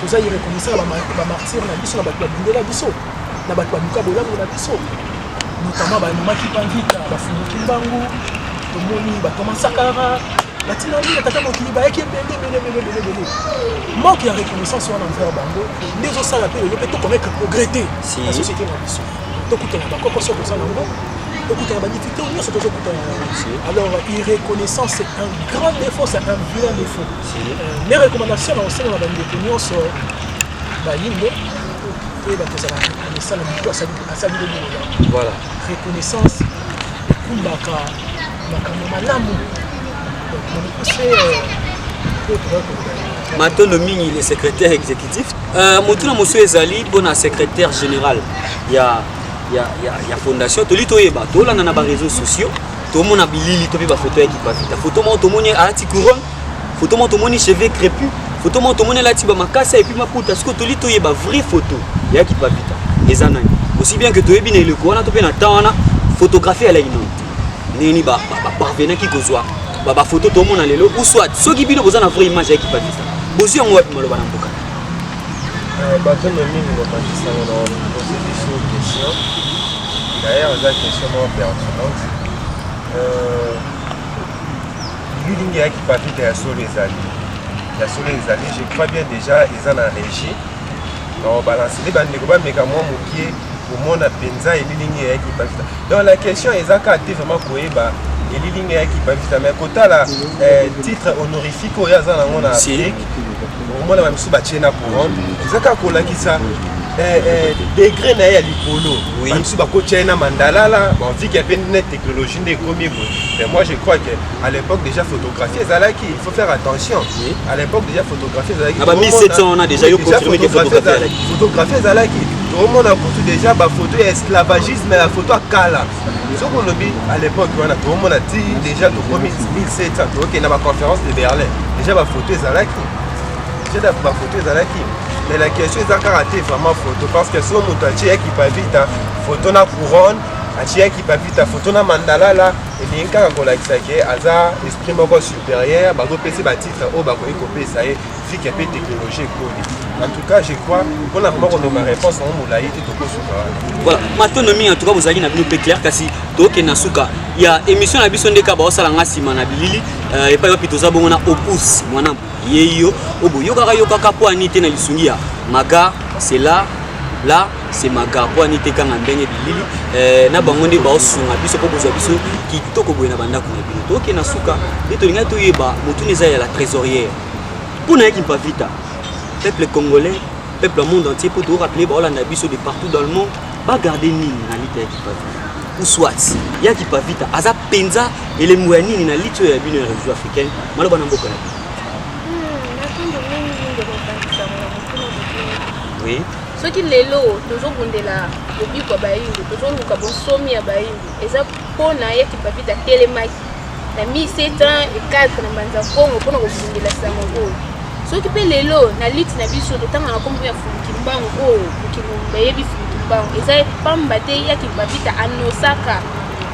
toza ireconnaissant na bamartire na biso na bato babundela biso na bato baluka bolamu na biso notama bamemaki panvita bafunguki mbangu tomoni bato ya masakara batina nini tata mokili bayaki ebele ebeleebeleebele manque ya reconnaissance wana envers bango nde ezosala mpe lelo mpe tokomeka progrès te na société na biso tokutana bakoko soko oza nango tokutana badifficulté nyonso tozokutana yango alors irreconnaissance c'est un grand défaut c'est un vilain défaut Mes recommandations na kosenga na bandeko nyonso bayindo oyo bakozala reconnaissant na motu asali lobolola voilà reconnaissance ekumbaka makambo malamu donc na mokuse oyo tokoki koloba matondo mingi le secrétaire exécutif euh, motuna mosusu ezali mpona secrétaire général ya, ya, ya, ya fondation toli toyeba tolanda na bareseau sociaux tomona bilili to mpe bafoto ya kipavita foto moko tomoni alati couronne Photo moko tomoni cheveux crépus, photo moko tomoni alati ba makasa et puis maputa. Siko toli toyeba vraie photo ya Kipavita eza nani? Aussi bien que toyebi na eleko wana to mpe na temps wana photographie ya laino ndenge nini baparvenaki kozwa bafoto tomona lelo ou soit soki bino boza na vraie image ya Kipavita bozwi yango wapi maloba na mboka euh, bato na mingi bapandisango na pose biso question d'ailleurs eza question moko pertinente euh, Building ya Kipavita ya solo ezali ya solo ezali je crois bien déjà eza na régie baobalanse nde bandeko bameka mwa mokie komona mpenza elilingi ya Kipavita donc la question eza kaka te vraiment koyeba elilingi ya Kipavita mais kotala eh, titre honorifique oyo aza nango na Afrique okomona bamisusu batie na couronne eza kaka kolakisa eh, eh, degre na ye ya likolo bamisusu bakotya ye na mandalala bavike mpe nete technologie nde ekomi boye mais moi je crois que à l'époque déjà photographie ezalaki il faut faire attention oui. à l'époque déjà photographie ezalaki ba 1700 on a déjà yo confirmé que photographie ezalaki photographie ezalaki tomona kutu déjà bafoto ya esclavagisme ya foto ya kala soki olobi à l'époque wana tomona ti déjà tokomi 1700 tokokende na baconférence de berlin déjà bafoto ezalaki déjà bafoto ezalaki mais la question eza kaka te vraiment photo parce que so moto atie ya kipavita photo na couronne atiyaki papita foto na mandalala elingi kaka kolakisa ke aza esprit moko supérieur bazopesi batitre oyo bakoki kopesa ye fike mpe technologie ekoli en tout cas je crois mpona vraimen koloba réponse yango molai te tokosuka wana voilà matondo mingi en tout cas bozalaki na bino mpe claire kasi tokende na suka ya émission na biso ndeka baosala nga nsima na bilili euh, epai wapi toza bongo na opus mwana yeyo obo yokaka yokaka po ani te na lisungi ya maga c'est là là c'est maga po ani te kanga ndenge bilili eh, na bango nde baosunga biso po kozwa biso kitoko boye na bandako na bino toke na suka nde tolingaki toyeba motuna eza ya la trésorière mpo na yaki mpavita peuple congolais peuple monde entier po toorapele baolanda biso de partout dans le monde Ba garder nini na lite ya Kipavita? Ou soit ya Kipavita aza penza elembo ya nini na lite oyo ya bino ya réseau africaine maloba na mboka na bino? Oui. soki lelo tozobundela lobiko ya bayindo tozoluka bonsomi ya bayindo eza mpona ye kipavita atelemaki na 1704 na mbanza kongo mpona kobundela sango oyo soki mpe lelo na liti na biso totanga na nkombo ya funkimbangu oyo mokili mobimba eyebi funkimbangu eza pamba te ya kibabita anosaka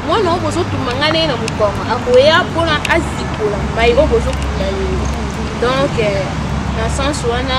mwana oyo bozotumba ngai naye na mokongo akoya mpona azikola mai oyo bozokunda lelo donc euh, na sense wana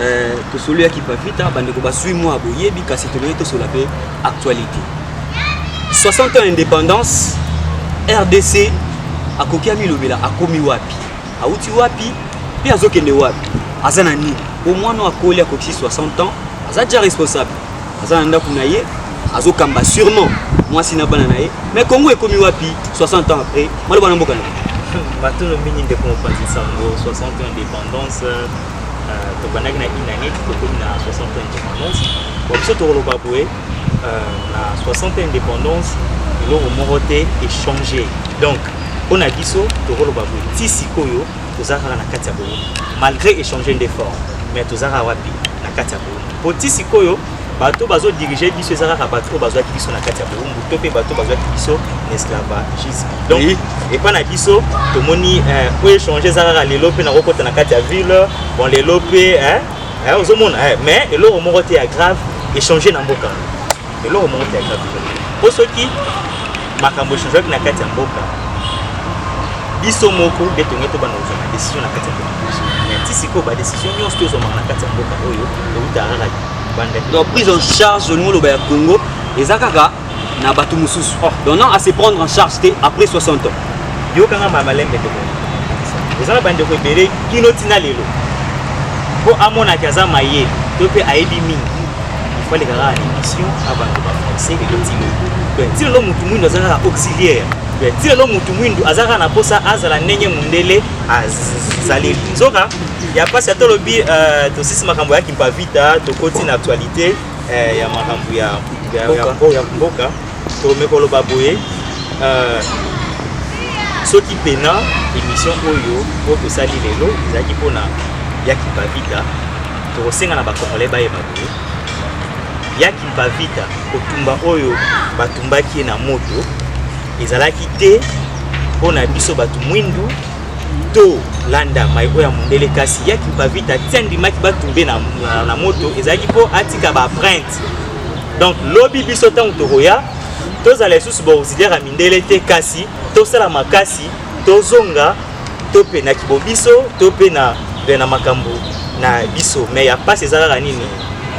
Eh, tosolo ya kipavita bandeko basui mwa boyebi kasi tolei tosola mpe actualité 60 ans indépendance rdc akoki amilobela akomi wapi awuti wapi mpe azokende wapi aza na nini po mwana akoli akokisi 60 ans aza deja responsable aza na ndako na ye azokamba sûrement mwasi na bana na ye mais congo ekomi wapi 60 ans après maloba na mboka na matolo mingi ndeko mopanzi nsango 60 ans indépendance euh, tobandaki na inaneti tokomi na 60 ans indépendance bon biso tokoloba boye euh, na 60 ans indépendance eloko moko te echange donc mpo na biso tokoloba boye ti sikoyo toza kaka na kati ya boye malgré échanger nde fort mais toza kaka wapi na kati ya boye mpo ti sikoyo bato bazodirige biso eza kaka bato oyo bazwaki biso na kati ya boumbu to mpe bato bazwaki biso na esclavagisme donc epai na biso tomoni eh, po échange eza kaka lelo mpe nakokota na kati ya ville bon lelo mpe eh, eh, ozomona mais eloko moko te ya grave échange na mboka eloko moko te ata po soki makambo echangeaki na kati ya mboka biso moko nde tonge tobanda kozwa na décision na kati ya mboka biso ti sikoyo badécision nyonso tozwamaka na kati ya mboka oyo euta kaka banda donc prise en charge olingi oloba ya congo eza kaka na bato mosusu oh. donc non à se prendre en charge te après 60 ans yokanga ma malembe ndeko eza na bandeko ebele kino ntina lelo mpo amonaki aza maye to mpe ayebi mingi fale kaka na émission abanda ba français et latino donc ti lelo motu mwindo aza kaka auxiliaire donc ti lelo motu mwindo aza kaka na mposa azala ndenge mondele azali nzoka ya mpasi ata olobi euh, tosisi makambo ya kimpavita tokoti na actualité euh, ya makambo ya mboka tome koloba boye euh, soki pena émission oyo oyo tosali lelo ezalaki mpona ya kimpavita tokosenga na bakongole bayeba boye ya kimpavita kotumba oyo batumbaki ye na moto ezalaki te mpo na biso bato mwindu to landa mai oyo ya mondele kasi ya kimpavita ti andimaki batumbe na, na, na moto ezalaki mpo atika baprinte donc lobi biso ntango tokoya tozala lisusu baauxiliaire ya mindele te kasi tosala makasi tozonga to mpe na kibo biso to mpe na na makambo na biso me ya mpasi eza kaka nini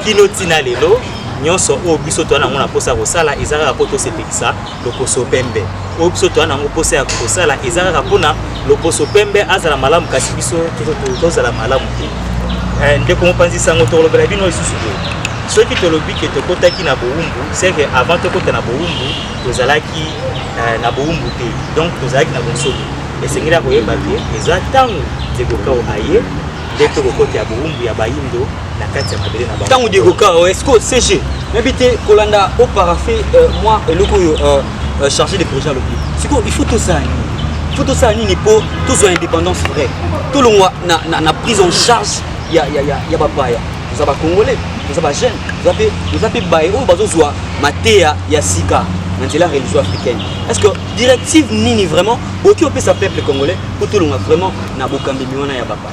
kino ntina lelo nyonso oyo biso toza nango na mposa ya kosala eza kaka mpo tosepelisa loposo pembe oyo biso toya nango mposa ya kosala eza kaka mpona loposo pembe azala malamu kasi biso tozala malamu te eh, ndeko mopanzi sango tokolobela bino lisusu boye soki tolobi ke tokotaki na bowumbu seke avant tokota na bowumbu tozalaki eh, na bowumbu te donc tozalaki na bonsomi esengeli ya koyeba te eza ntango ndeko kao aye nde tokokota ya bowumbu ya bayindo na kati ya mabele na bango ntango diego kara oh, esco cg nayebi te kolanda o parafe euh, mwa eloko oyo euh, euh, chargé de projet alobi sikoyo il faut tosala nini il faut tosala nini mpo tozwa indépendance vraie tolongwa na, na, na prise en charge ya, ya, ya, ya bapaya toza bacongolais toza bajeune toza mpe baye oyo bazozwa mateya ya sika na nzela religion africaine est ce que directive nini vraiment boki opesa peuple congolais mpo tolonga vraiment na bokambi miwana ya bapaya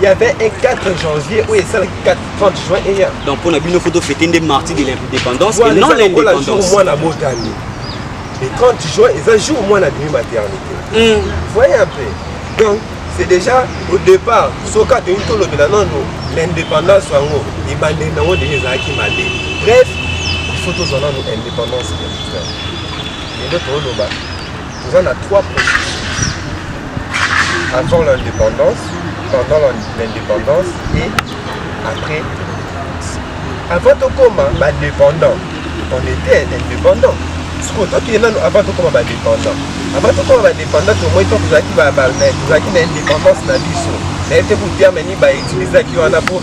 Il y avait un 4 janvier où il s'est 4 30 juin et hier. Donc pour la bino photo fêter des martyrs de l'indépendance et non l'indépendance. Moi la botane. Le 30 juin, ils un jour moi la demi maternité. Mm. Voyez un peu. Donc c'est déjà au départ soka toyini tolobela nano l'indépendance yango ebandeli nango deja ezalaki mabe bref il faut tozwa nano indépendance ya lelo toloba Toza na trois processus avant l'indépendance, pendant l'indépendance et après. Avant tokoma ba dépendant, on était indépendant. sikoyo tokende nano avant tokoma badépendant avant tokoma badépendant tomoi to tozalaki tozalaki na indépendance na biso naye te kuterme nini bautilisaki wana mpo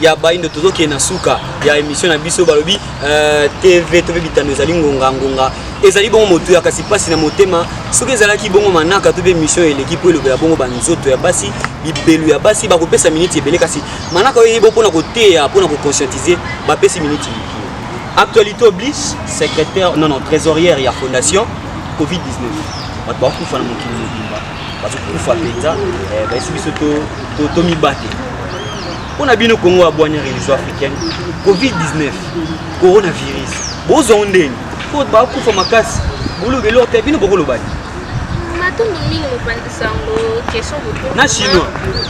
ya baindo tozokende na suka ya émission na biso balobi euh, tv to mpe bitando ezali ngonga ngonga ezali bongo motuya kasi mpasi na motema soki ezalaki bongo manaka to mpe émission eleki mpo elobela bongo banzoto ya basi bibelu ya basi bakopesa miniti ebele kasi manaka oyo eyebo mpo na koteya mpo na koconscientize bapesi miniti actualité oblige secrétaire non non trésorière ya fondation covid-19 bato bakufa na mokili mobimba bazokufa mpenza eh, bayesi biso tomibate mpo na bino kongo abwani religion africaine covid-19 coronavirus bozwa ngo ndeni mpo bakufa makasi boloba eloko te bino bokolobaki na chinois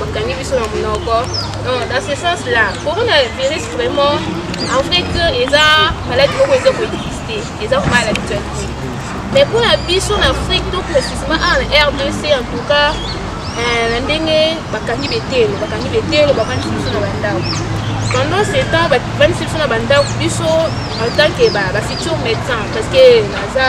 bakangi biso na monoko dans ce sens là coronavirus vraiment en fait eza maladi moko eza koexiste eza vraimen à l'actualité mais mpo na biso na afrique to précisement awa na rdc en tout cas euh, na ndenge bakangi betelo bakangi betelo bavandisi biso na bandako pendant ce temps bavandisi biso na bandako biso en tant que bafutur médecin parce que naza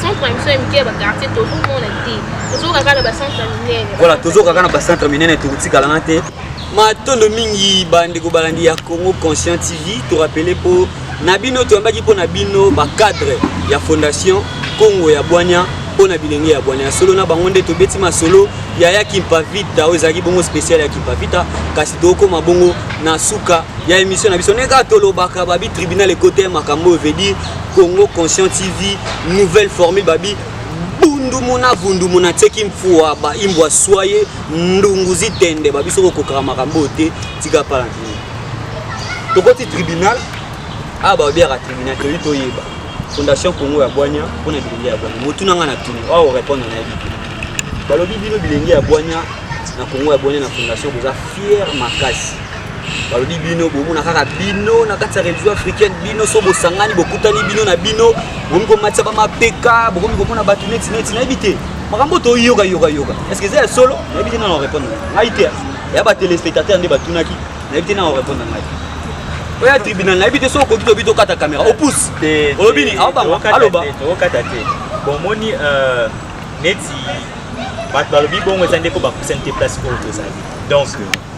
centre ya biso ya mike ya bakartier tozomona te tozoka kaka na bacentre minene voilà tozoka kaka na bacentre minene tokotikalana te matondo mingi bandeko balandi ya congo conscient tv torapele mpo na bino toyambaki mpo na bino bacadre ya fondation congo ya bwania mpo na bilenge ya bwania ya solo na bango nde tobeti masolo ya ya kimpavita oyo ezalaki bongo spécial ya kimpavita kasi tokoma bongo na suka ya émission na biso ndenge kaka tolobaka babi tribunal ekoteye makambo oyo veut dire Congo Conscient TV, nouvelle formule babi bundumu na vundumu na tieki mfua ba imbwa swaye ndungu zitende babi soko kokaka makambo te tika pala nini tokoti tribunal a ah, baobiaka tribunal toyi toyeba fondation congo ya bwanya mpo na bilenge ya bwanya motuna ngai na tuni oa orepondre na yebi te balobi bino bilenge ya bwanya na congo ya bwanya na fondation boza fiere makasi balobi bino bomona kaka bino na kati ya religion africaine bino so bosangani bokutani bino na bino bokomi komatisa bamapeka bokomi komona bato neti neti nayebi te makambo toyoka yoka yoka estce eza ya solo nayebi te nana orépondre ngai te ya batelespectateur nde batunaki nayebi te nana orépondre ngai oya tribunal nayebi te soki okoki tobi tokata caméra opousse olobi nini aobanga aloba okata te bomoni euh, neti bato balobi bongo eza ndeko bakusa nte place oyo tozali donc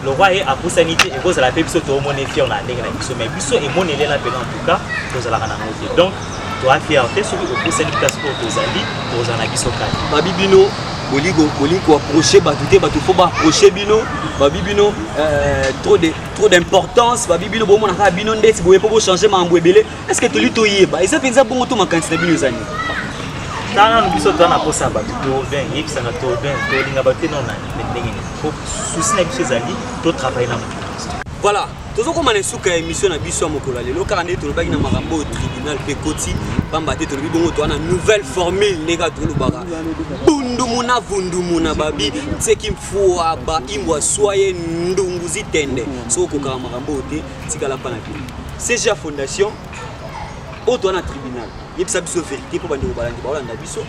lokwa ye apusani te ekozala mpe biso toomona efiere na ndenge na biso mai biso emonelela mpena en tout cas tozalaka na yango te donc toa fiere te soki opusani place oyo tozali kozala na biso kati babi bino boli koaproche bato te bato fo baaproche bino babi bino euh, trop d'importance babi bino bomona kaka bino ndeti boye mpo bochange makambo ebele Est-ce que toli toyeba eza mpenza bongo to makanisi na bino eza nini? Tala no biso toza na posa ya bato tourbain yebisana tourbain tolinga bato te nao na ndenge nini po susi na biso ezali totravaille na moto voilà tozokoma na esuka ya émission na biso ya mokolo ya lelo kaka ndenge tolobaki na makambo oyo tribunal mpe koti mpamba te tolobi bongo toa na nouvelle formule ndenge kaka tolobaka bundumuna vundumuna babi nseki mfua ba imbwa swaye ndungu zitende soki okokaka makambo oyo te tikala mpa na bino CGA Fondation oyo toa na tribunal yebisa biso verité mpo bandeko balandi baolanda biso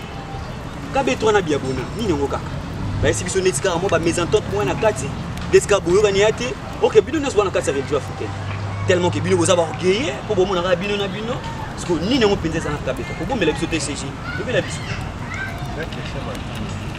kabetwa na biabona nini yango kaka bayesi biso neti kaka mwa bamesentente moko na kati neti kaka boyokani ya te oke bino nyonso bana kati ya religion africaine tellement ke bino boza baorgueille mpo bomonaka bino na bino siko nini yango mpenza eza na kabetwa kobombela biso te cg lobela biso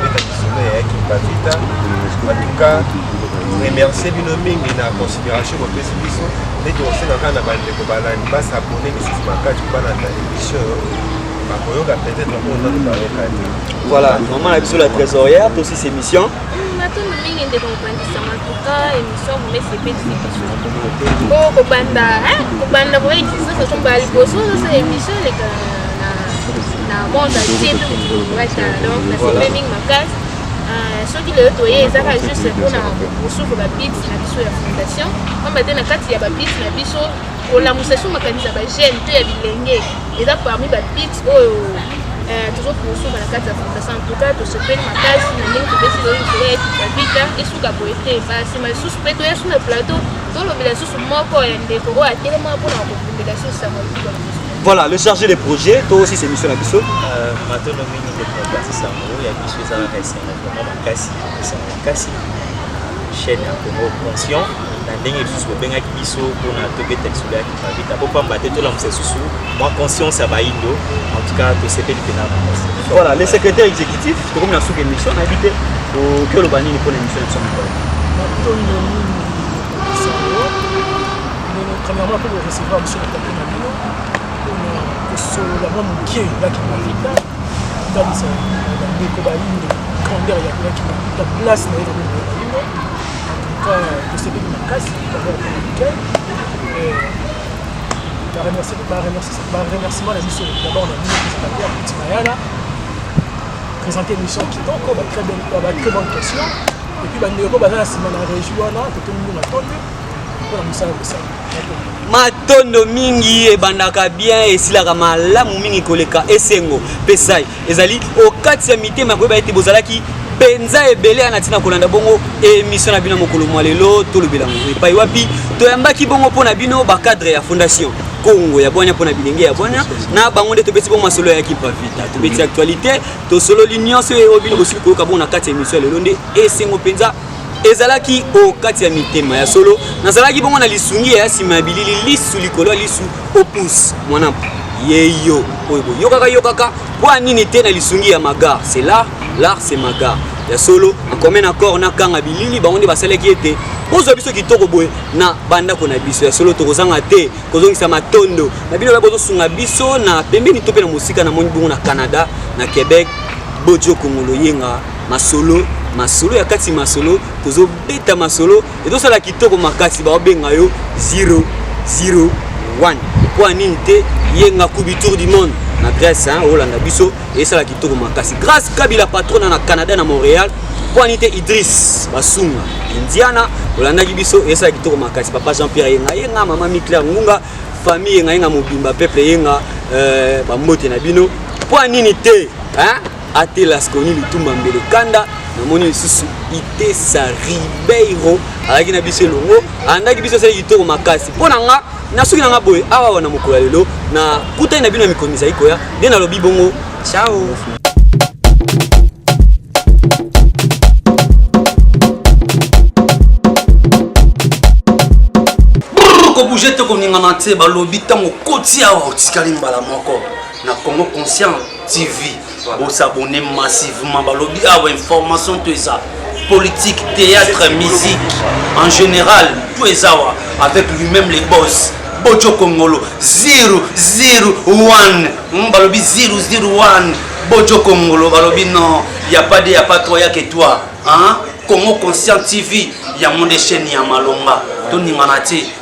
beta lisolo ya yaki bavita antuka remercie bino mingi na considération bopesi biso nde tokosenga kaka na bandeko balandi basabone lisusu makasi balanda émission bakoyoka peut-être mpona bayoka te voilà maman na biso la trésorière tosi émission matondo mingi ndeko mopanzi sango antuka émission momesepelisi biso o kobanda kobanda koyekisa soso mbala liboso ozosa émission elekala na monde entier tokowata donc nasepeli mingi makasi euh, soki lelo toye ezaka juste mpona kosuka babiti na biso ya fondation pamba te na kati ya babiti na biso kolamusa so makanisi ya bajeune to ya bilenge eza parmi babiti oyo euh, tozo kosuka na kati ya fondation antuka tosepeli makasi na ndenge topesi lelo likolo ya ekipavita esuka boye te basima lisusu mpe toya su na plateau tolobela lisusu moko ya ndeko oyo atelema mpona kobundela susu sango likolo Voilà, le chargé de projet, toi aussi c'est mission la biso. Euh, maintenant, nous avons des problèmes, c'est ça. Il y a des choses à faire, c'est vraiment ma casse, c'est ma casse. Chaîne à Congo conscient, na ndenge lisusu bobengaki biso mpona tobeta lisolo ya kipavita mpo pamba te tolamusa lisusu mwa conscience ya baindo en tout cas tosepeli mpena makasi voilà le secrétaire exécutif tokomi na suka émission nayebi te oki oloba nini mpona émission ya biso mokolo matondo mingi sango premièrement mpe korecevoir monsieur kosolola mwa moke ya kimafita kotalisa bandeko bayindo grandeur ya kimafita place na ye na bandeko bayindo antuka tosepeli makasi dabord communicain baremerciement na biso dabord na bino presentateur ya petit mayala présente émission kitoko ba très bonne question epuis bandeko baza na nsima na régi wana totomi ngo matondi mpo na mosala kosala matondo mingi ebandaka bien esilaka malamu mingi koleka esengo mpe sai ezali okati ya mitema koyeba ete bozalaki mpenza ebele ya na ntina kolanda bongo emission na bino mokolo mwa lelo tolobela yango epai wapi toyambaki bongo mpo na bino bacadre ya fondation kongo ya bwania mpo na bilenge ya bwania na bango nde tobeti bongo masolo ya kipavita tobeti actualité tosololi nyonso oyo bino bosili koyoka bongo na kati ya emission ya lelo nde esengo mpenza ezalaki o kati ya mitema ya solo nazalaki bongo na lisungi ya nsima ya bilili lisu likolo ya lisu opus mwana yeyo oyo boyokaka yokaka mpo nini te na lisungi ya magar c'est l'art l'art c'est magar ya solo en commun accord na kanga bilili bango nde basalaki ete bozwa biso kitoko boye na bandako na biso ya solo tokozanga te kozongisa matondo na bino baye bozosunga biso na pembeni to mpe na mosika na moni bongo na canada na québec bojo kongolo yenga masolo masolo ya kati masolo tozobeta masolo ezosala kitoko makasi baobenga yo 001 mpo ya nini te yenga kubi tour du monde na grèce olanda biso esala kitoko makasi grâce kabila patrona na canada na montréal mpo ya nini te idris basunga indiana olandaki biso esala kitoko makasi papa jean pierre yenga yenga mama miclaire ngunga famille yenga yenga mobimba peuple yenga euh, bambote na bino mpo ya nini te hein? atelas koni lutumba mbele kanda namoni lisusu itesa ribeiro alaki na biso elongo alandaki biso asali kitoko makasi mpo na nga na soki na nga boye awa wana mokolo ya lelo na kutani na bino ya mikolo mizali koya nde nalobi bongo ciao bouge te koningana te balobi ntango okoti awa otikali mbala moko na congo conscient TV bo s'abonner massivement balobi awa ah information to eza politique théâtre musique en général to eza wa avec lui-même les boss bojo kongolo 001 hmm, balobi 001 bojo kongolo balobi non ya pas de ya pas toi ya que toi hein? congo conscient tv yango nde chaîne ya malonga toningana te